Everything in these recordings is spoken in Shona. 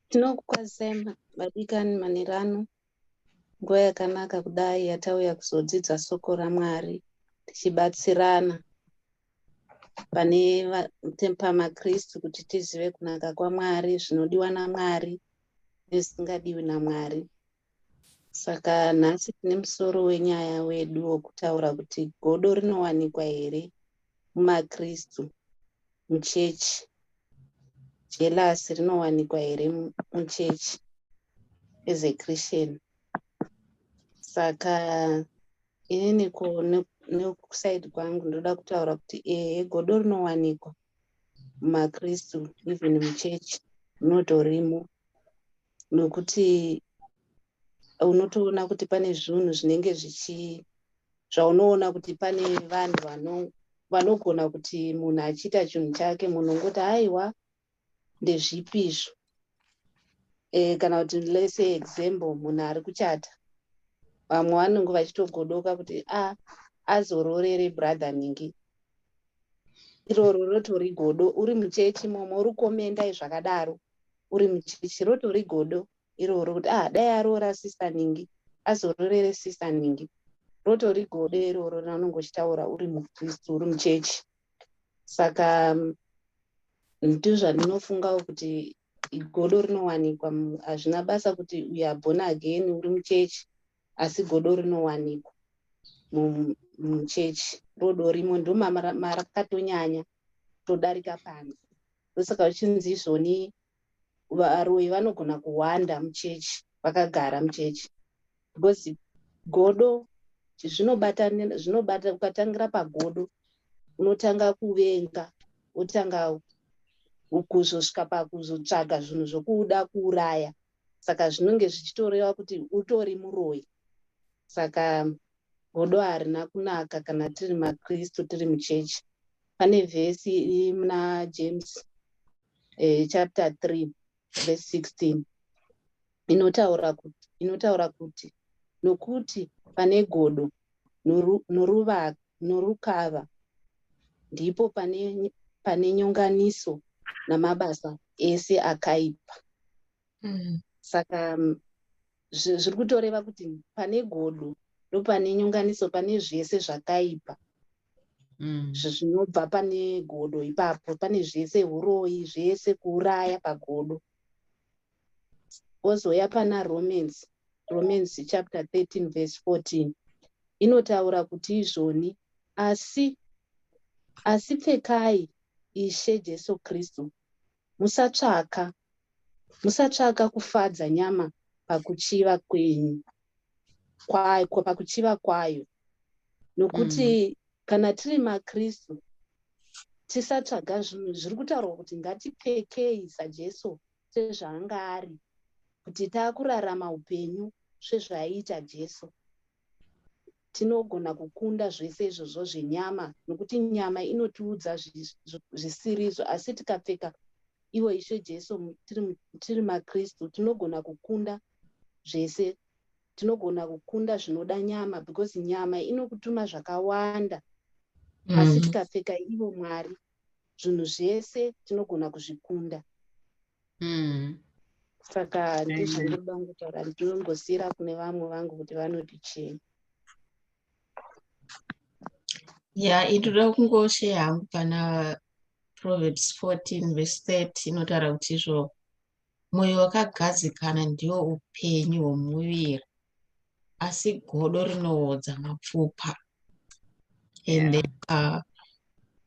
tinokukwazisai vadikani manhero ano nguva yakanaka kudai yatauya kuzodzidza soko ramwari tichibatsirana pane pamakristu kuti tizive kunaka kwamwari zvinodiwa namwari nezvisingadiwi namwari Saka nhasi tine musoro wenyaya wedu wokutaura kuti godo rinowanikwa here mumaKristu, muchechi? Jealous rinowanikwa here muchechi as a Christian? Saka ini niko nekusaidi kwangu ndoda kutaura kuti ehe godo rinowanikwa mumaKristu even muchechi rinotorimo. nokuti unotoona kuti pane zvinhu zvinenge zvichi zvaunoona kuti pane vanhu vano vanogona kuti munhu achiita chinhu chake munhu ungoti haiwa ndezvipi izvo e, kana kuti lese example munhu ari kuchata vamwe vanenge vachitogodoka kuti a ah, azororere brother ningi iroro rotori godo uri muchechi momo uri komendai zvakadaro uri muchechi rotori godo iroro kuti ah dai aroora sister ningi azororere sister ningi rotori godo iroro raunenge uchitaura uri mukristu uri muchechi saka mm, ndizvo zvandinofungawo kuti godo rinowanikwa mm, hazvina basa kuti uyu abhona again uri muchechi asi godo rinowanikwa mu- muchechi rodo rimo ndomarakatonyanya todarika panze ndosaka uchinzi izvoni varoyi vanogona kuwanda muchechi vakagara muchechi because godo zvinobata ukatangira pagodo unotanga kuvenga wotanga kuzosvika pakuzotsvaga zvinhu zvokuda kuuraya saka zvinonge zvichitoreva kuti utori muroyi saka godo harina kunaka kana tiri makristu tiri muchechi pane vhesi iri muna james eh, chapter 3 vhesi 16 inotaura kuti inotaura kuti nokuti pane godo norukava ndipo pane pane nyonganiso namabasa ese akaipa mm. saka zviri kutoreva kuti pane godo ndopane nyonganiso pane zvese zvakaipa mm. zvinobva pane godo ipapo pane zvese uroyi zvese kuuraya pagodo ozouya pana romance romance chapter 13 verse 14 inotaura kuti izvoni asi asi pfekai ishe jesu kristu Musatsvaka, musatsvaka kufadza nyama pakuchiva kwenyu, kwayo, pakuchiva kwayo. Nokuti mm. kana tiri maKristu, tisatsvaga zvinhu zviri kutaurwa kuti ngatipfekei saJesu sezvaanga ari, kuti taakurarama upenyu sezvaiita Jesu. tinogona kukunda zvese izvozvo zvenyama nokuti nyama inotiudza zvisirizvo asi tikapfeka iwo ishe jesu tiri makristu tinogona kukunda zvese tinogona kukunda zvinoda nyama because nyama inokutuma zvakawanda asi mm. tikapfeka ivo mwari zvinhu zvese tinogona kuzvikunda mm. saka ndizvandinoda kutaura ndinombosiyira kune vamwe vangu kuti vanoti chii ya itoda kungosheya hangu pana proverbs 14 vese 30 inotaura kuti izvo mwoyo wakagadzikana ndiwo upenyu hwomuviri asi godo rinoodza mapfupa and yeah. then uh,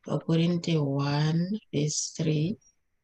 vakorinte 1 vese 3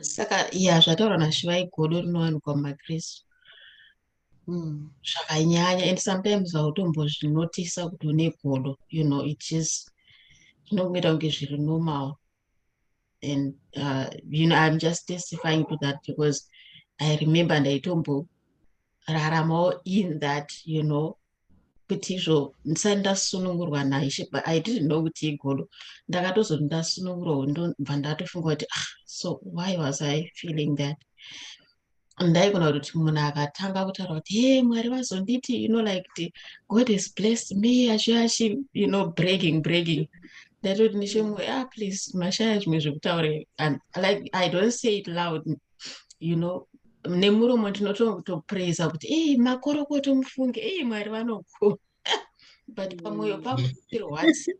saka ya zvataura nashivai godo rinowanikwa mumakristu hmm. zvakanyanya and sometimes vautombozvinotisa kuti une godo you know it is zvinongoita kunge zviri normal and uh, you know i'm just testifying to that because i remember ndaitomboraramawo in that you know kuti izvo ndisati ndasunungurwa naishe but i didn't know kuti igodo ndakatozoti ndasunungurwa ndobva ndatofunga kuti ah so why was i feeling that ndaigona kuti munhu akatanga kutaura kuti he mwari vazonditi you know like kuti god has blessed me achive achi you know breaking breaking ndaitoti nechemwe ah please mashaya zvimwe zvekutaura like i don't say it loud you know nemuromo tinotopraiza kuti ei makorokoto mufunge ei mwari vanokona but pamwoyo mm. pako tirwadzi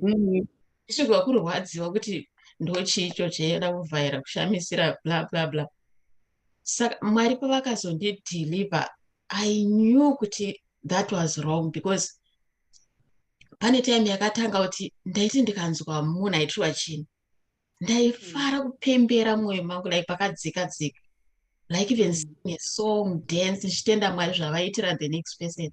mm. isvigwa kurwadziwa kuti ndochii icho chaienda kuvhaira kushamisira bla bla bla saka mwari pavakazondideliver i knew kuti that was wrong because pane time yakatanga kuti ndaiti ndikanzwa munhu aitirwa chini ndaifara kupembera mwoyo mangu like pakadzika dzika like even mm. sing a song dance ndichitenda mwari zvavaitira the next person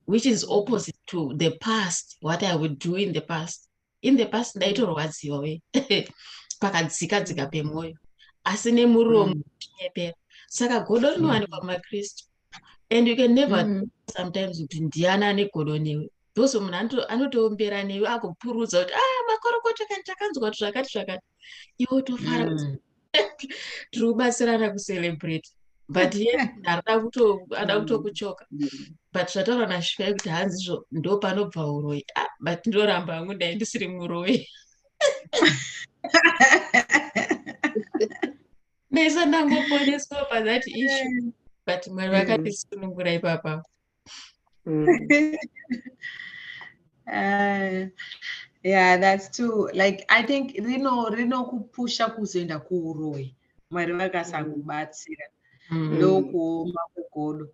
which is opposite to the past what i would do in the past in the past ndaitorwadziwa we pakadzika dzika pemwoyo asi nemuromo mm. ndichinyepera saka godo rinowanikwa mumakristu and you can never mm. sometimes kuti ndiana ane godo newe those munhu anotoombera newe akupurudza kuti a ah, makorokoto kani takanzwa kuti zvakati zvakati iwe tofara mm. tiri kubatsirana kucelebrate but ye ndarida kutoada mm. kutokuchoka but zvataura nashika yekuti hanzi izvo ndo panobva uroyi ah, but ndoramba hangu ndai ndisiri muroyi Nesa ndangoponeswa pa that issue but mwari mm. vakandisunungura ipapa mm. uh, yeah that's true like i think rino rinokupusha kuzoenda kuuroyi mwari vakasakubatsira mm. ndokuoma kugodo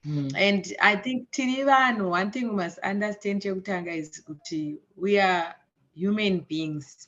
Mm. And I think tiri vanhu, one thing we must understand chekutanga is kuti we are human beings.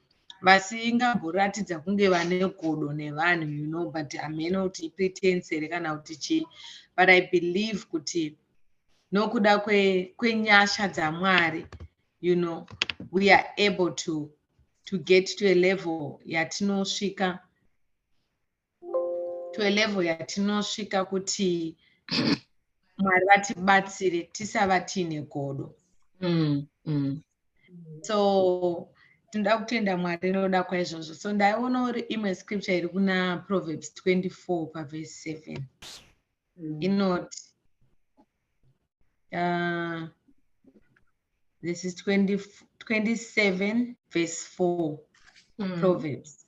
vasingamboratidza kunge vane godo nevanhu you know but hameno kuti ipretence here kana kuti chii but i believe kuti nokuda kwenyasha kwe dzamwari you know we are able to to get to a level yatinosvika to a level yatinosvika kuti mwari vatibatsire tisava tiine godo mm, mm. so tinoda kutenda mwari noda kwaizvozvo so ndaiona uri imwe scripture iri kuna proverbs 24 pavhesi 7 mm. inoti uh, this is 20, 27 vhesi 4 mm. proverbs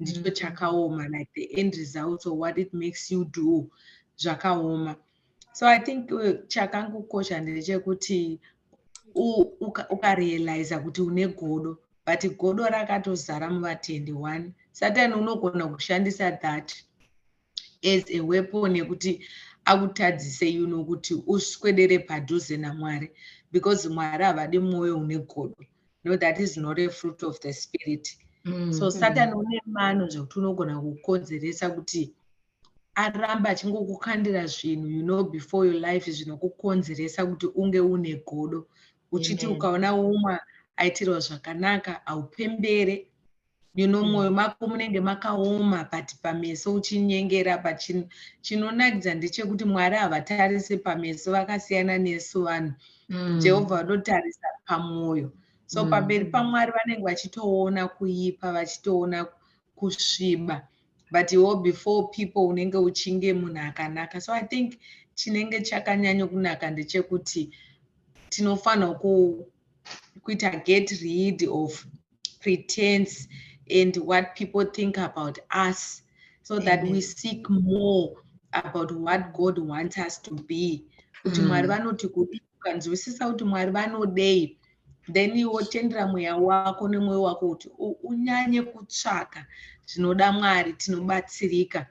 ndicho mm. chakaoma like the end results or what it makes you do zvakaoma so i think uh, chakangokosha ndechekuti ukarealiza uka kuti une godo but godo rakatozara muvatendi one satan unogona kushandisa that as a weapon yekuti akutadzise you know kuti uswedere padhuze namwari because mwari havadi mwoyo une godo no that is not a fruit of the spirit mm, so mm-hmm. satan mm. une mano zvekuti unogona kukonzeresa kuti aramba achingokukandira zvinhu you know before your life zvinokukonzeresa kuti unge une godo uchiti ukaona umwe aitirwa zvakanaka haupembere you know mwoyo mm. mako munenge makaoma but pameso uchinyengera but chinonakidza ndechekuti mwari havatarise pameso vakasiyana nesu vanhu mm. jehovha vanotarisa pamwoyo so mm. pamberi pamwari vanenge vachitoona kuipa vachitoona kusviba but iwo before people unenge uchinge munhu akanaka so i think chinenge chakanyanyo kunaka ndechekuti tinofanirwa kuita get rid of pretense and what people think about us so that we seek more about what god wants us to be kuti mm. mwari vanoti kudii ukanzwisisa kuti mwari vanodei then wotendera mweya wako nemwoyo wako kuti unyanye kutsvaka zvinoda mwari tinobatsirika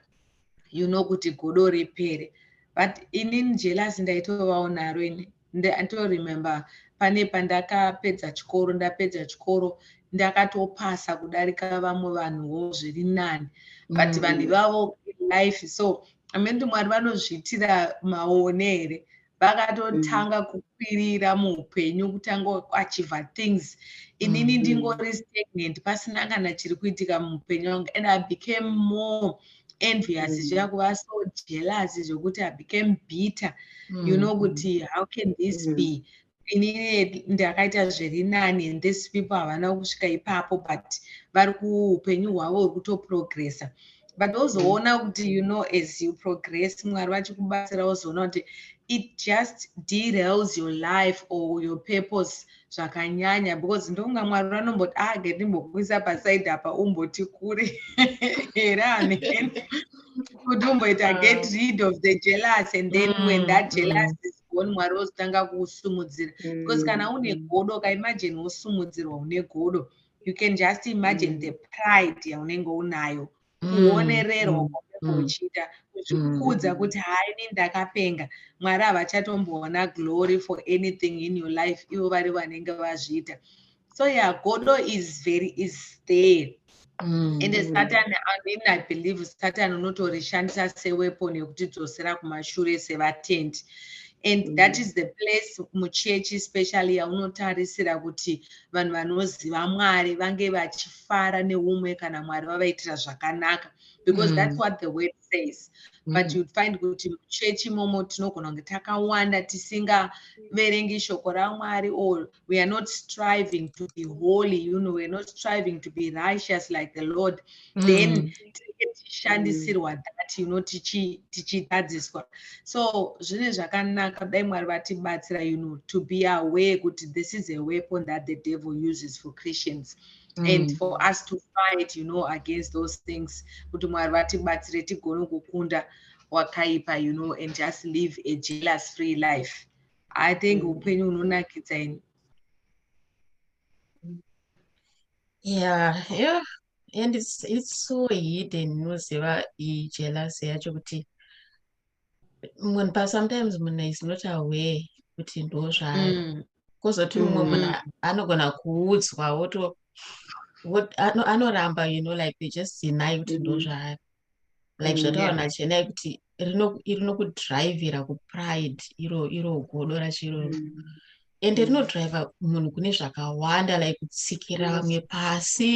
you know kuti godo repere but inini jelasi ndaitovawo naro ini Ndito remember pane pandakapedza chikoro ndapedza chikoro ndakatopasa kudarika vamwe vanhuwo zviri nani but mm. vanhu ivavo life so amenti mwari vanozviitira maone here vakatotanga mm. kukwirira muupenyu kutanga kuachiva things inini mm. ndingori stagnant pasina kana chiri kuitika muupenyu wangu and i became more envious mm. zviya kuva so jealous zvokuti i became bitter mm. you know kuti how can this mm. be inini ndakaita zviri nani and this people havana kusvika ipapo but vari kuupenyu hwavo huri kutoprogressa but ozoona mm. kuti you know as you progress mwari vachikubatsira ozoona kuti it just derails your life or your purpose zvakanyanya because ndokunga mwari vanomboti ah get ndimbokuisa paside apa umboti kure here ani kuti umboita ah. get rid of the jealous and then mm, when that mm. jealous mm. is gone mwari vozotanga kuusumudzira mm. because kana une mm. godo ukaimagine wosumudzirwa une godo you can just imagine mm. the pride yaunenge unayo kuonererwa kwaunenge uchiita kuzvikudza kuti haini ndakapenga mwari havachatomboona glory for anything in your life ivo vari vanenge vazviita so ya godo is very is there ende mm. satani amene i believe satani unotorishandisa seweapon yekutidzosera kumashure sevatendi and mm. that is the place muchechi specially yaunotarisira kuti vanhu vanoziva mwari vange vachif kufara neumwe kana mwari vavaitira zvakanaka because mm. that's what the word says mm. but you'd find kuti muchechi imomo tinogona kunge takawanda tisingaverengi shoko ramwari or we are not striving to be holy you know weare not striving to be righteous like the lord mm. then tinenge tichishandisirwa mm. that you know tichitadziswa so zvine zvakanaka dai mwari vatibatsira you know to be aware kuti this is a weapon that the devil uses for christians mm. and for us to fight you know against those things kuti mwari vatibatsire tigone kukunda wakaipa you know and just live a jealous free life i think mm. upenyu mm. unonakidza ini yeah yeah and it's, it's so hidden unoziva ijealous yacho kuti munhu pa sometimes munhu is not aware kuti ndo zvayo mm. kozoti mumwe mm. munhu anogona kuudzwa woto anoramba you know like they just deny kuti ndo mm. zvayo like zvataona chenai kuti rinokudrivhira kupride iro iro godo rachiroro ende mm. rinodriva munhu kune zvakawanda like kutsikira vamwe pasi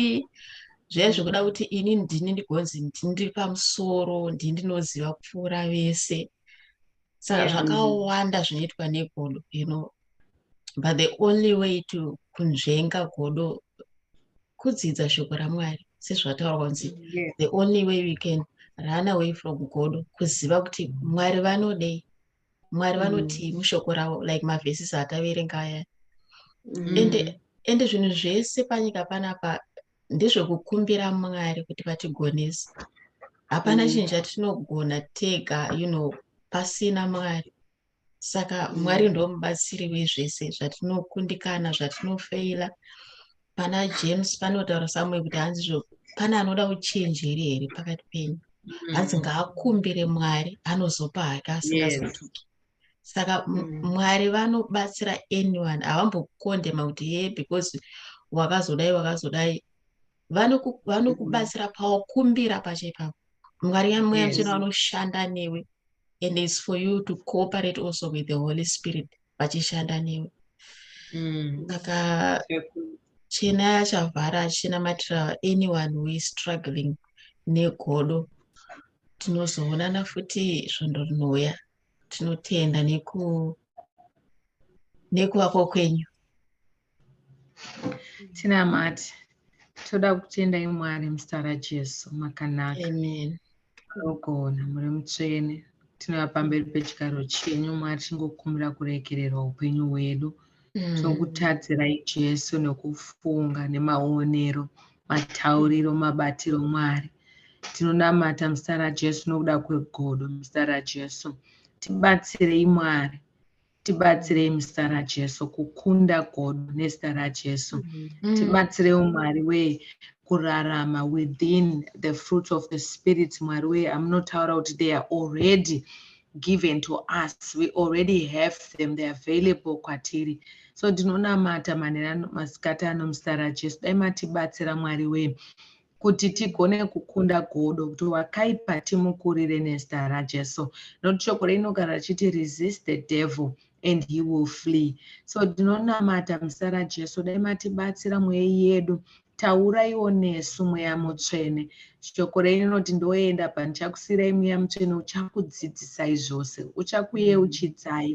zvaive zvekuda kuti ini ndini ndigonzi ndiri pamusoro ndii ndinoziva kupfuura vese saka zvakawanda zvinoitwa negodo you know but the only way to kunzvenga godo kudzidza shoko ramwari sezvataura kunzi the only way we can run away from godo kuziva kuti mwari vanodei mwari mm. vanotii mm. mushoko ravo like mavhesis ataverenga aya mm. ende ende zvinhu zvese panyika panapa ndezvekukumbira mwari kuti vatigonese hapana mm. chinhu chatinogona tega you know pasina mwari saka mm. mwari ndomubatsiri wezvese zvatinokundikana zvatinofeila pana james panotaura samue kuti hanzi zvo pane anoda uchenjeri here pakati penyu mm. hanzi ngaakumbire mwari anozopa hake asingazotuki saka mm. mwari vanobatsira anyone havambokondema kuti ye because wakazodai wakazodai vanokubatsira mm. pawakumbira pacho ipapo mwari yamweya mchena vanoshanda newe and is for you to cooperate also with the holy spirit vachishanda newe mm. saka chena yachavhara achinamatira anyone who is struggling negodo tinozoonana futi svondo rinouya tinotenda neku nekuvako kwenyu tinamati toda kutenda imwari muzita rajesu makanaka ogona muri mutsvene tinova pamberi pechigaro chenyu mwari tingokumbira kurekererwa upenyu hwedu mm. tokutadzirai jesu nekufunga nemaonero matauriro mabatiro mwari tinonamata muzita rajesu nokuda kwegodo muzita rajesu tibatsirei mwari tibatsirei muzita rajesu kukunda godo nezita rajesu mm. tibatsirei umwari wee kurarama within the fruits of the spirit mwari wee amunotaura kuti they are already given to us we already have them they available kwatiri so ndinonamata manheru masikati ano muzita rajesu dai matibatsira mwari wee kuti tigone kukunda godo kuti wakaipa timukurire nezita rajesu nokuti shoko reinogara richiti resist the devil and he will flee so tinonamata muzita rajesu dai matibatsira mweya yedu tauraiwo nesu mweya mutsvene shoko renyu rinoti ndoenda pandichakusiirai mweya mutsvene uchakudzidzisai zvose uchakuyeuchidzai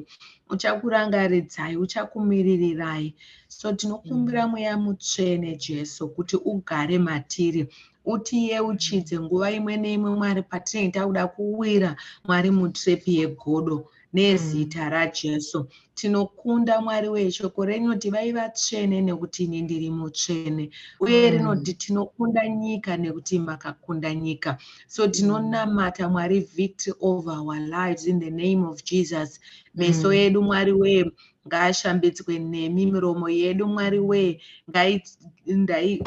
uchakurangaridzai uchakumiririrai so tinokumbira mm. mweya mutsvene jesu kuti ugare matiri utiyeuchidze nguva imwe neimwe mwari patinenge takuda kuwira mwari mutrepi yegodo nezita mm. rajesu tinokunda mwari weshoko renoti vai vatsvene nekuti ini ndiri mutsvene uye mm. rinoti tinokunda nyika nekuti makakunda nyika so tinonamata mwari victory over our lives in the name of jesus meso mm. edu mwari wee ngaashambidzwe nemi miromo yedu mwari wee ngaidai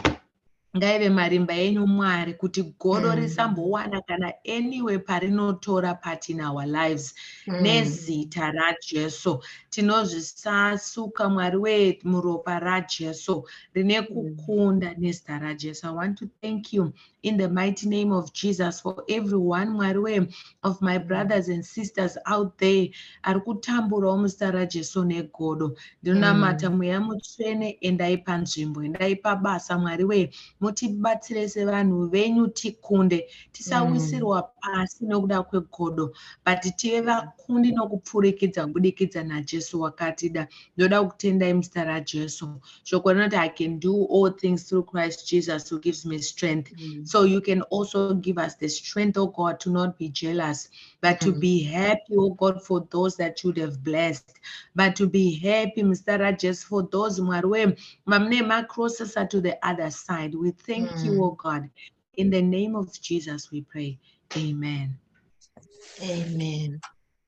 ngaive marimba enyu mwari kuti godo mm. risambowana kana anyway parinotora part in our lives mm. nezita rajesu tinozvisasuka mwari wee muropa rajesu rine mm. kukunda nezita rajesu i want to thank you in the mighty name of Jesus for everyone mwari we of my brothers and sisters out there ari kutamburawo muzita rajesu negodo ndinonamata mm. mweya mutsvene endai panzvimbo endai pabasa mwari we mutibatsire sevanhu venyu tikunde tisawisirwa mm. pasi nokuda kwegodo but tive vakundi nokupfurikidza kubudikidza najesu wakatida ndoda kukutendai muzita rajesu shoko rinoti i can do all things through christ jesus who gives me strength mm. so you can also give us the strength o oh god to not be jealous but to mm. be happy o oh god for those that you'd have blessed but to be happy muzita rajesu for those mwari wee vamune macrossesa to the other side we thank mm. you o oh god in the name of jesus we pray amen amen